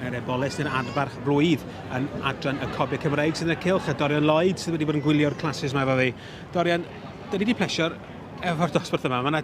Yr eboles yn adfarch blwydd yn adran y Cobe Cymraeg sydd yn y cylch a Dorian Lloyd sydd wedi bod yn gwylio'r classes mae efo fi. Dorian, da ni wedi plesio'r efo'r dosbarth yma. Mae yna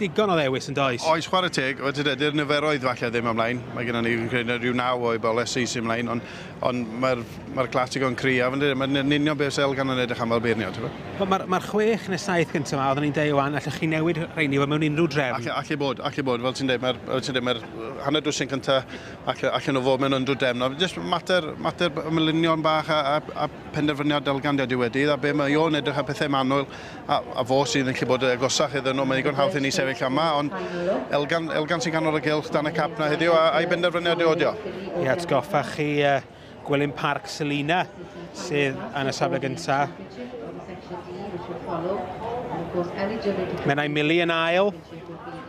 digon o ddewis yn does? Oes chwarae teg, wedi dydy'r niferoedd falle ddim ymlaen. Mae gennym ni rhyw naw o ebolesi sy'n ymlaen, ond Ond mae'r mae'r clasig o'n cryf yndydi? Mae'n yn union beth sydd gan yn edrych am fel beirniad, ti'n gwybod? Wel, mae'r mae'r chwech neu saith gyntaf yma, oeddwn i'n deud wan, allwch chi newid rheini wel, mewn unrhyw drefn. Alle, alle bod, alle bod, fel ti'n deud, mae'r fel ti'n deud, mae'r hanner dwsin cyntaf, alle, allan nhw fod mewn unrhyw drefn. Ond jyst mater, mater ymlunion bach a, a, a penderfyniad dalgan dydy wedi, a be mae o'n edrych ar pethau manwl, A, a fo sydd yn gallu bod y agosach iddyn nhw. Mae'n ddigon hawdd i ni sefyll yma, ond Elgan, Elgan sy'n ganol y gylch dan y cap na heddiw, a, a'i benderfyniad yw odio. I atgoffa chi uh, Gwilym Parc Selina sydd yn y safle gyntaf. Menai Mili yn ail,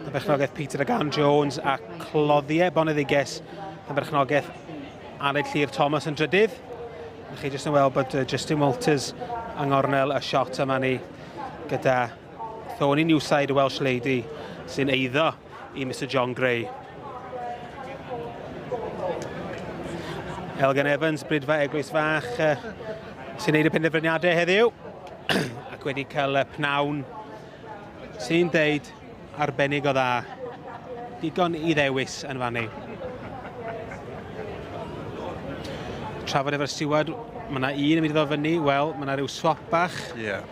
y berchnogaeth Peter Agan Jones a Cloddiau Boneddiges, y berchnogaeth Aled Llyr Thomas yn drydydd. A chi jyst yn weld bod Justin Walters yng ngornel y shot yma ni gyda Thorny Newside, y Welsh Lady, sy'n eiddo i Mr John Gray. Elgan Evans, Brydfa Eglwys Fach, sy'n neud y penderfyniadau heddiw ac wedi cael pnawn Sy'n deud arbennig o dda. Digon i ddewis yn fan ni. Trafod efo'r siwad, mae yna un yn mynd i ddod fyny, wel, mae yna rhyw swap bach. Ie. Yeah.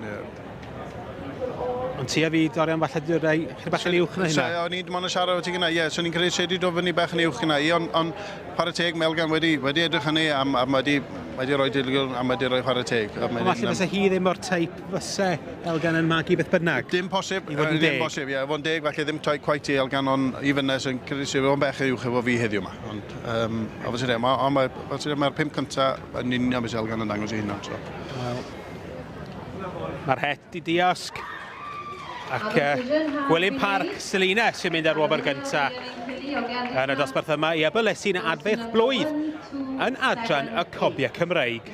Yeah. Ond ti a fi, Dorian, falle dwi'n rhai chyda bach yn uwch na hynna. So, o'n i'n mwyn siarad o ti gyna, ie, so ni'n credu sedi do fyny bach yn uwch gyna i, ond on, chwarae teg Melgan wedi, wedi edrych hynny, am, am wedi, wedi rhoi dilgwn, am wedi rhoi chwarae teg. Ond falle fysa hi ddim o'r teip fyse Elgan yn magu beth bynnag. Dim posib, i fod yn deg. Dim posib, ie, fod yn deg, falle ddim toi quite i Elgan, ond i fynes yn credu sy'n o'n bech uwch efo fi heddiw yma. Ond, um, a fos yna, ond mae'r mae pum cynta yn union beth Elgan yn dangos i hynna. So. Well, mae'r het i diosg. Ac uh, Gwilym Parc Selina sy'n mynd ar wobr gynta yn y dosbarth yma i Abylesin Adfeirch Blwydd yn adran y Cobiau Cymreig.